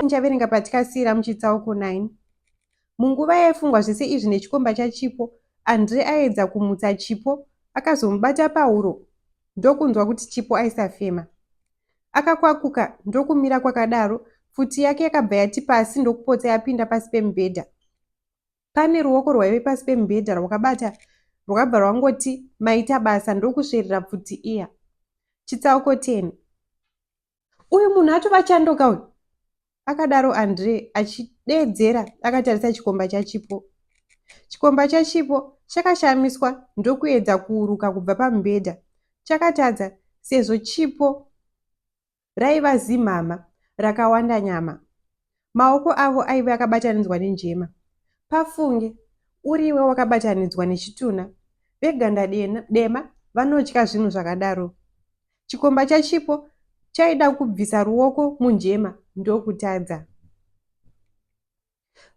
muchaverenga patikasiyira muchitsauko 9 munguva yaifungwa zvese izvi nechikomba chachipo andre aedza kumutsa chipo akazomubata pahuro ndokunzwa kuti chipo aisafema Akakwakuka ndokumira kwakadaro, pfuti yake yakabva yati pasi ndokupotsa yapinda pasi pemubhedha. Pane ruoko rwaive pasi pemubhedha rwakabata rwakabva rwangoti maita basa ndokusverera pfuti iya. Chitsauko 10. Uyu munhu atova chandoka uyu. akadaro andre achideedzera akatarisa chikomba chachipo chikomba chachipo chakashamiswa ndokuedza kuuruka kubva pamubhedha chakatadza sezvo chipo raiva zimhama rakawanda nyama maoko avo aive akabatanidzwa nenjema pafunge uriwe wakabatanidzwa nechituna veganda dema vanotya zvinhu zvakadaro Chikomba chaChipo chaida kubvisa ruoko munjema ndokutadza.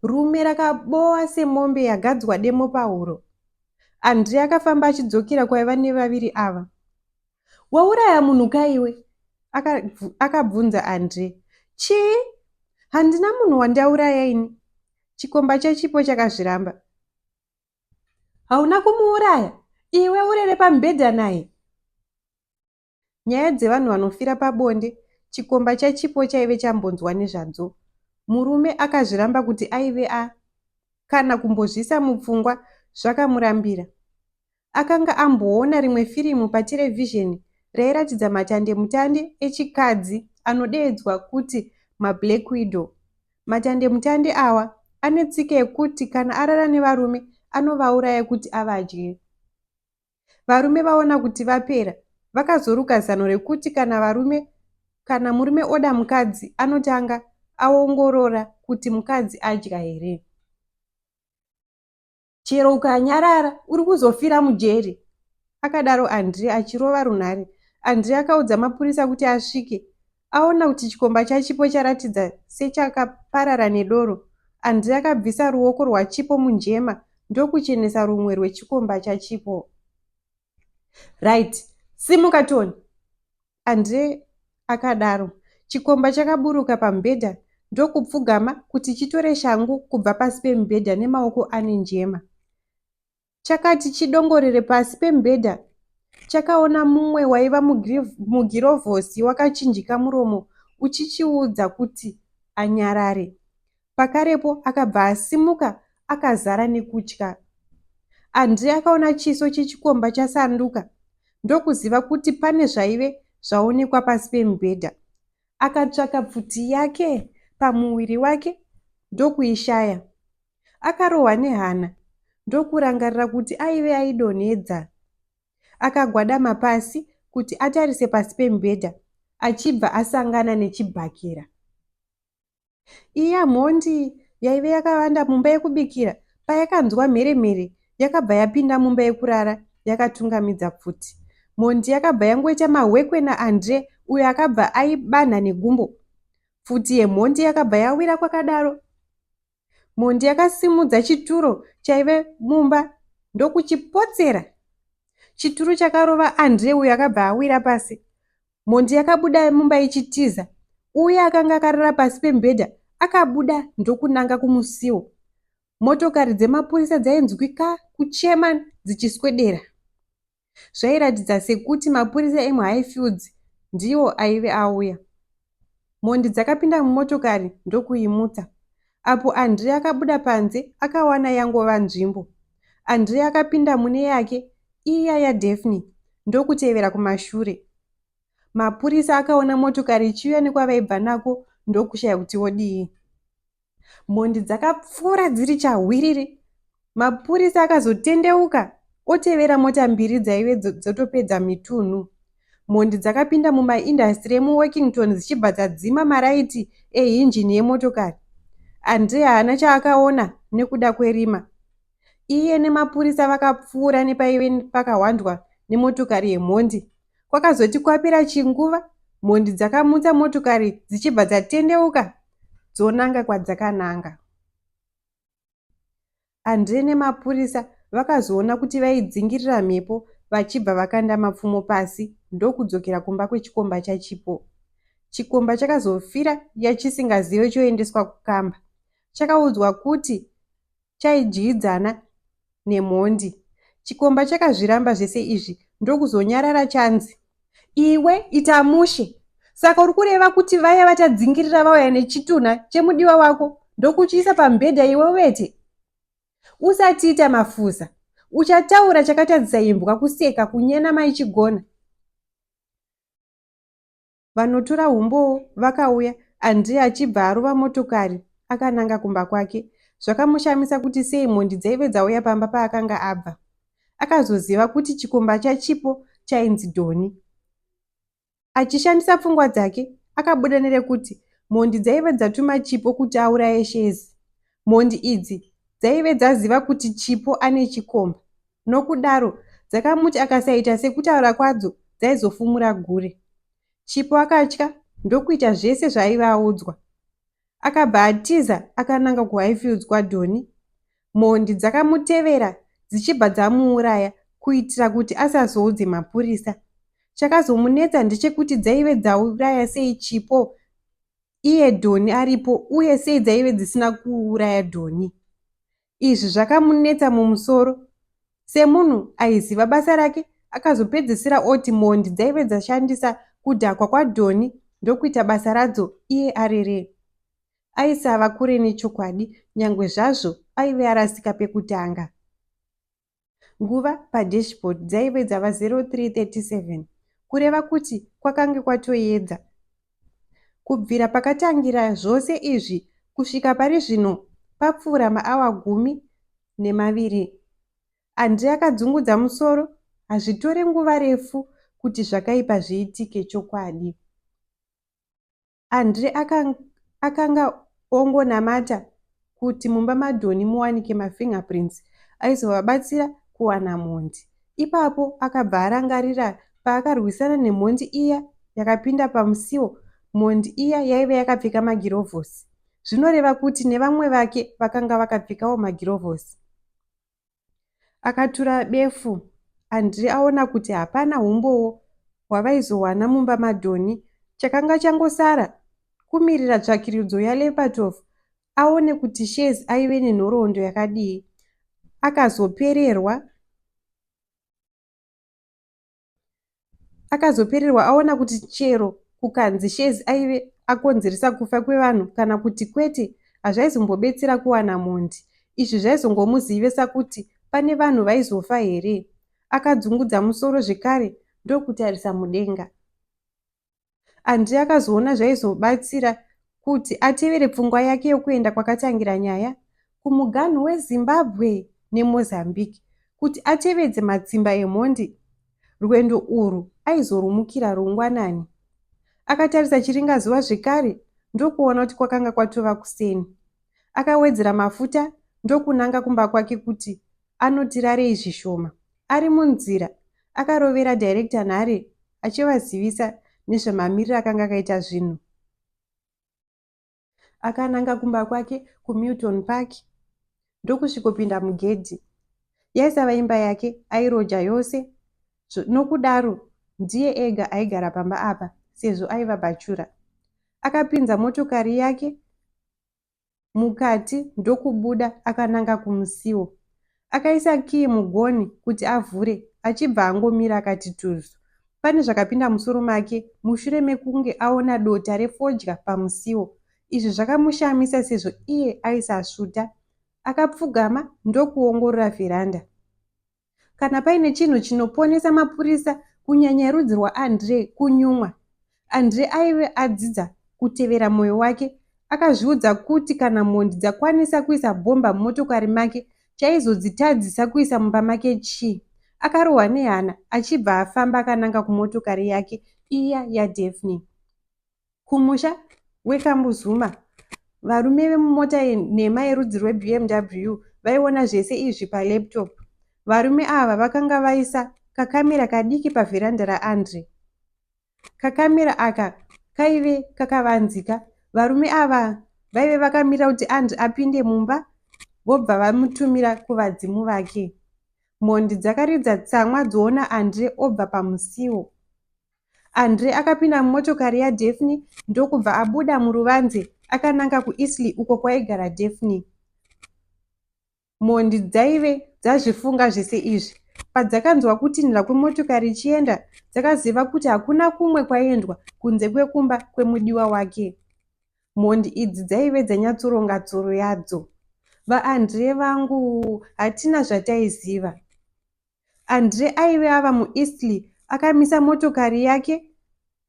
Rume rakabowa semombe yagadzwa demo pahuro. Andre akafamba achidzokera kwaiva nevaviri ava. Wauraya munhu kaiwe? akabvunza Andre. Chii? Handina munhu wandauraya ini. Chikomba chaChipo chakazviramba. hauna kumuuraya iwe urere pamubhedha naye nyaya dzevanhu vanofira pabonde chikomba chachipo chaive chambonzwa nezvadzo murume akazviramba kuti aive a kana kumbozvisa mupfungwa zvakamurambira akanga amboona rimwe firimu paterevhizheni rairatidza matandemutande echikadzi anodeedzwa kuti mablack widow Matandemutande awa ane tsika yekuti kana arara nevarume anovauraya kuti avadye. Varume vaona kuti vapera vakazoruka zano rekuti kana varume kana murume oda mukadzi anotanga aongorora kuti mukadzi adya here. chero ukanyarara uri kuzofira mujeri akadaro andri achirova runhare andri akaudza mapurisa kuti asvike aona kuti chikomba chachipo charatidza sechakaparara nedoro andri akabvisa ruoko rwachipo munjema ndokuchenesa rumwe rwechikomba chachipo right simuka toni Andre akadaro. Chikomba chakaburuka pamubhedha ndokupfugama kuti chitore shangu kubva pasi pemubhedha nemaoko ane njema. Chakati chidongorere pasi pemubhedha chakaona mumwe waiva mugirovhosi wakachinjika muromo uchichiudza kuti anyarare. Pakarepo akabva asimuka akazara nekutya. Andre akaona chiso chechikomba chasanduka ndokuziva kuti pane zvaive zvaonekwa pasi pemubhedha. Akatsvaka pfuti yake pamuviri wake ndokuishaya. Akarohwa nehana ndokurangarira kuti aive aidonhedza. Akagwadama pasi kuti atarise pasi pemubhedha achibva asangana nechibhakera. Iya mhondi yaive yakavanda mumba yekubikira payakanzwa mhere-mhere yakabva yapinda mumba yekurara yakatungamidza pfuti. Mhondi yakabva yangoita mahwekwe naAndre uyo akabva aibanha negumbo. Pfuti yemhondi yakabva yawira kwakadaro. Mhondi yakasimudza chituro chaive mumba ndokuchipotsera. Chituru chakarova Andre uyo akabva awira pasi. Mhondi yakabuda mumba ichitiza. Uya akanga akarara pasi pemubhedha akabuda ndokunanga kumusiwo. Motokari dzemapurisa dzainzwika kuchema dzichiswedera. Zvairatidza sekuti mapurisa emuHighfields ndiwo aive auya. Mhondi dzakapinda mumotokari ndokuimutsa. Apo Andre akabuda panze akawana yangova nzvimbo. Andre akapinda mune yake iya yaDaphne ndokutevera kumashure. Mapurisa akaona motokari ichiuya nekwavaibva nako ndokushaya kuti vodii. Mhondi dzakapfuura dziri chahwiriri. Mapurisa akazotendeuka otevera mota mbiri dzaive dzotopedza mitunhu. Mhondi dzakapinda mumaindastiri emuworkington dzichibva dzadzima maraiti ehinjini yemotokari. Andre haana chaakaona nekuda kwerima. Iye nemapurisa vakapfuura nepaive pakahwandwa nemotokari yemhondi Kwakazoti kwapera chinguva, mhondi dzakamutsa motokari dzichibva dzatendeuka dzonanga kwadzakananga. Andre nemapurisa vakazoona kuti vaidzingirira mhepo vachibva vakanda mapfumo pasi ndokudzokera kumba kwechikomba chaChipo. Chikomba chakazofira yachisingazive choendeswa kukamba. Chakaudzwa kuti chaidyidzana nemhondi. Chikomba chakazviramba zvese izvi ndokuzonyarara chanzi. Iwe ita mushe. Saka uri kureva kuti vaya vatadzingirira vauya nechitunha chemudiwa wako ndokuchiisa pamubhedha iwe uvete? Usatiita mafuza. Uchataura chakatadzisa imbwa kuseka kunyena maichigona. vanotora humbowo vakauya Andrea achibva arova motokari akananga kumba kwake. Zvakamushamisa kuti sei mhondi dzaive dzauya pamba paakanga abva. Akazoziva kuti chikomba chaChipo chainzi Doni. Achishandisa pfungwa dzake, akabuda nerekuti mhondi dzaive dzatuma Chipo kuti auraye Shezi. Mhondi idzi dzaive dzaziva kuti Chipo ane chikomba. Nokudaro, dzakamuti akasaita sekutaura kwadzo dzaizofumura gure. Chipo akatya ndokuita zvese zvaaiva audzwa. Akabva atiza akananga kuHighfields kwaDonny. Mhondi dzakamutevera dzichibva dzamuuraya kuitira kuti asazoudze mapurisa. Chakazomunetsa ndechekuti dzaive dzauraya sei Chipo iye Donny aripo uye sei dzaive dzisina kuuraya Donny. Izvi zvakamunetsa mumusoro. Semunhu aiziva basa rake, akazopedzisira oti mhondi dzaive dzashandisa kudhakwa kwaDhoni ndokuita basa radzo iye arere. Aisava kure nechokwadi nyangwe zvazvo aive arasika pekutanga. Nguva padashboard dzaive dzava 03:37 kureva kuti kwakange kwatoyedza. Kubvira pakatangira zvose izvi kusvika pari zvino papfuura maawa gumi nemaviri. Andre akadzungudza musoro, hazvitore nguva refu kuti zvakaipa zviitike chokwadi. Andre akanga, akanga ongonamata kuti mumba maDonny muwanike mafingerprints aizovabatsira kuwana mhondi. Ipapo akabva arangarira paakarwisana nemhondi iya yakapinda pamusiwo, mhondi iya yaive yakapfeka magirovhosi. Zvinoreva kuti nevamwe vake vakanga vakapfekawo magirovhosi. Akatura befu Andri aona kuti hapana humbowo hwavaizowana mumba maDhoni. Chakanga changosara kumirira tsvakiridzo yaLepatov aone kuti Shez aive nenhoroondo yakadii. Akazopererwa Akazopererwa aona kuti chero kukanzi Shezi aive akonzeresa kufa kwevanhu kana kuti kwete hazvaizombobetsera kuwana mhondi. Izvi zvaizongomuzivisa kuti pane vanhu vaizofa here? Akadzungudza musoro zvekare ndokutarisa mudenga. Andrei akazoona zvaizobatsira kuti atevere pfungwa yake yokuenda kwakatangira nyaya kumuganhu wezimbabwe nemozambique kuti atevedze matsimba emhondi rwendo urwu aizorumukira rungwanani akatarisa chiringazuva zvekare ndokuona kuti kwakanga kwatova kuseni akawedzera mafuta ndokunanga kumba kwake kuti anoti rarei zvishoma. Ari munzira, akarovera director nhare achivazivisa nezvemamiriro akanga akaita zvinhu. Akananga kumba kwake kuMilton Park ndokusvikopinda mugedhi. Yaisava imba yake, airoja yose nokudaro ndiye ega aigara pamba apa sezvo aiva bhachura. Akapinza motokari yake mukati ndokubuda akananga kumusiwo. Akaisa kiyi mugonhi kuti avhure achibva angomira akati tuzu. Pane zvakapinda musoro make mushure mekunge aona dota refodya pamusiwo. Izvi zvakamushamisa sezvo iye aisasvuta. Akapfugama ndokuongorora vheranda. Kana paine chinhu chinoponesa mapurisa kunyanya erudzi rwaAndre kunyumwa. Andre aive adzidza kutevera mwoyo wake. Akazviudza kuti kana mhondi dzakwanisa kuisa bhomba mumotokari make, chaizodzitadzisa kuisa mumba make chii? Akarohwa nehana achibva afamba akananga kumotokari yake iya yaDaphne. Kumusha weKambuzuma, varume vemumota yenhema yerudzi rweBMW vaiona zvese izvi palaptop. Varume ava vakanga vaisa kakamera kadiki pavheranda raAndre. Kakamera aka kaive kakavanzika. Varume ava vaive vakamira kuti Andrew apinde mumba vobva vamutumira kuvadzimu vake. Mhondi dzakaridza tsamwa dzoona Andre obva pamusiwo. Andre akapinda mumotokari yaDaphne ndokubva abuda muruvanze akananga kuEasley uko kwaigara Daphne. Mhondi dzaive dzazvifunga zvese izvi. Padzakanzwa kutinhira kwemotokari ichienda, dzakaziva kuti hakuna kumwe kwaendwa kunze kwekumba kwemudiwa wake. Mhondi idzi dzaive dzanyatsoronga tsoro yadzo. VaAndree vangu, hatina zvataiziva. Andre aive ava muEastley akamisa motokari yake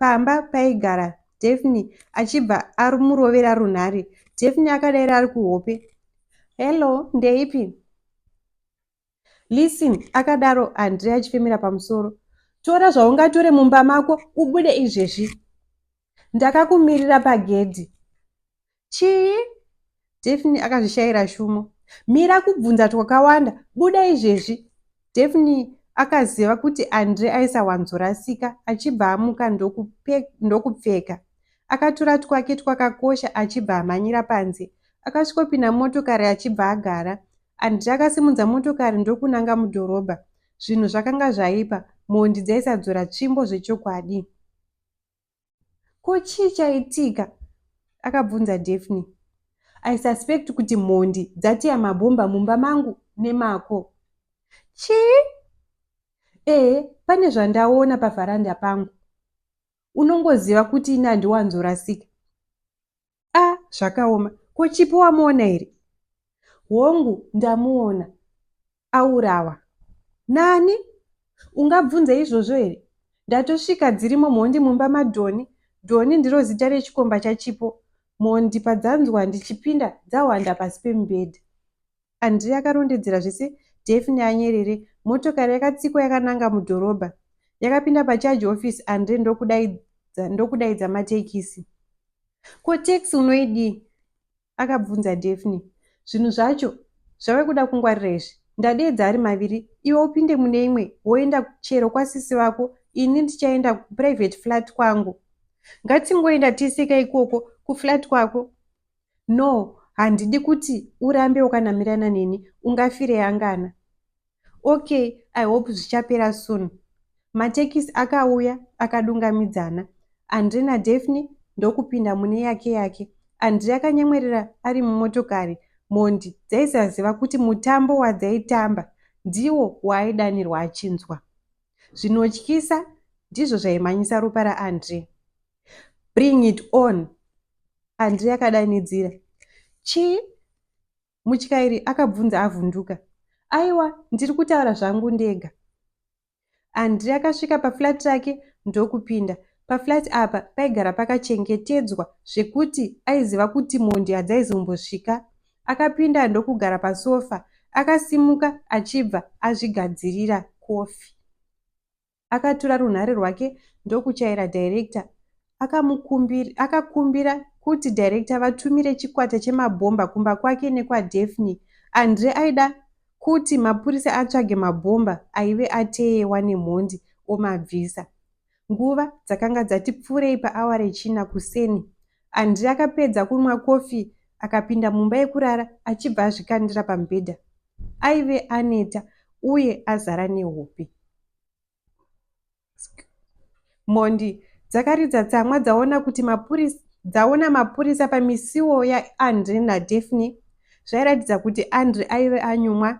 pamba paigara Daphne achibva amurovera runhare. Daphne akadaira ari kuhope. Hello, ndeipi? Listen, akadaro Andre achifemera pamusoro. Tora zvaungatore mumba mako ubude izvezvi. Ndakakumirira pagedhi. chii daphne akazvishaira shumo mira kubvunza twakawanda buda izvezvi daphne akaziva kuti andre aisawanzorasika achibva amuka ndokupfeka akatura twake twakakosha achibva amhanyira panze akasvikopinda motokari achibva agara andre akasimudza motokari ndokunanga mudhorobha zvinhu zvakanga zvaipa mhondi dzaisadzora tsvimbo zvechokwadi ko chii chaitika akabvunza daphne i suspect kuti mhondi dzatiya mabhomba mumba mangu nemako chii ee pane zvandaona pavharanda pangu unongoziva kuti ini handiwanzorasika a ah, zvakaoma ko chipo wamuona here hongu ndamuona aurawa nani ungabvunze izvozvo here ndatosvika dzirimo mhondi mumba madhoni dhoni ndiro zita rechikomba chachipo mhondi padzanzwa ndichipinda dzahwanda pasi pemubhedha André akarondedzera zvese Daphne anyerere. Motokari yakatsikwa yakananga mudhorobha. Yakapinda pacharge office André ndokudaidza, ndokudaidza matekisi. Ko taxi unoidii? Akabvunza Daphne. Zvinhu zvacho zvave kuda kungwarira izvi. Ndadeedza ari maviri, iwe upinde mune imwe woenda chero kwasisi vako, ini ndichaenda kuprivate flat kwangu. Ngatingoenda tese ka ikoko kuflat kwako. No, handidi kuti urambe wakanamirana neni, ungafire angana. Okay, I hope zvichapera soon. Matekisi akauya akadungamidzana. Andre naDaphne ndokupinda mune yake yake. Andre akanyemwerera ari mumotokari. Mhondi dzaisaziva kuti mutambo wadzaitamba ndiwo waaidanirwa achinzwa. Zvinotyisa ndizvo zvaimhanyisa ropa raAndre. Bring it on, Andrey akadanidzira. Chii? Mutyairi akabvunza avhunduka. Aiwa, ndiri kutaura zvangu ndega. Andrey akasvika paflat rake ndokupinda. Paflat apa paigara pakachengetedzwa zvekuti aiziva kuti mhondi hadzaizombosvika. Akapinda ndokugara pasofa. Akasimuka achibva azvigadzirira kofi. Akatura runhare rwake ndokuchaira director akamukumbira akakumbira kuti director vatumire chikwata chemabhomba kumba kwake nekwaDaphne. Andre aida kuti mapurisa atsvage mabhomba aive ateyewa nemhondi omabvisa. Nguva dzakanga dzati pfuurei paawa rechina kuseni. Andre akapedza kunwa kofi akapinda mumba yekurara achibva azvikandira pamubhedha. Aive aneta uye azara nehope. Mhondi dzakaridza tsamwa dzaona kuti mapurisa dzaona mapurisa pamisiwo yaAndre naDaphne zvairatidza kuti Andre aive anyumwa.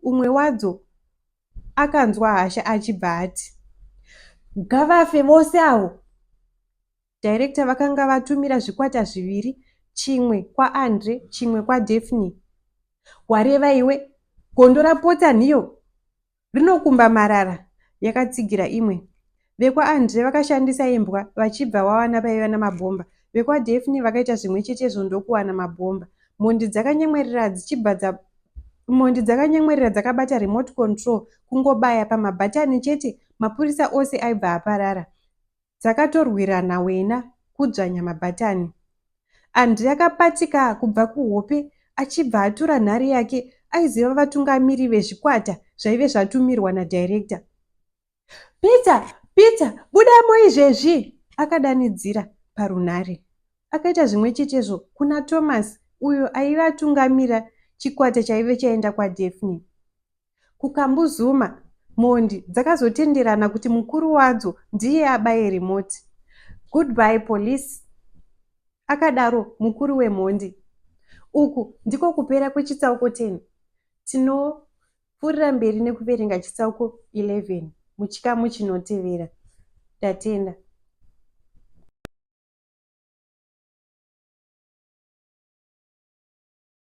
Umwe wadzo akanzwa hasha achibva ati, Ngavafe vose avo! Directa vakanga vatumira zvikwata zviviri, chimwe kwaAndre, chimwe kwaDaphne. Wareva iwe? Gondo rapotsa nhiyo! Rinokumba marara, yakatsigira imwe. VekwaAndre vakashandisa imbwa vachibva wawana paiva namabhomba. VekwaDaphne vakaita zvimwe chetezvo ndokuwana mabhomba. Mhondi dzakanyemwerera dzichibva dza Mhondi dzakanyemwerera dzakabata remote control kungobaya pamabhatani chete mapurisa ose aibva aparara. dzakatorwirana wena kudzvanya mabhatani. Andrey akapatika kubva kuhope achibva atura nhare yake aiziva vatungamiri vezvikwata zvaive zvatumirwa nadirector. Peter! Peter! Budamo izvezvi! akadanidzira parunhare. Akaita zvimwe chetezvo kuna Thomas uyo aive atungamira chikwata chaive chaenda kwaDaphne. KuKambuzuma, mhondi dzakazotenderana kuti mukuru wadzo ndiye abaye remote. Goodbye police, akadaro mukuru wemhondi. Uku ndiko kupera kwechitsauko 10. Tinopfuurira mberi nekuverenga chitsauko 11 muchikamu chinotevera. Ndatenda.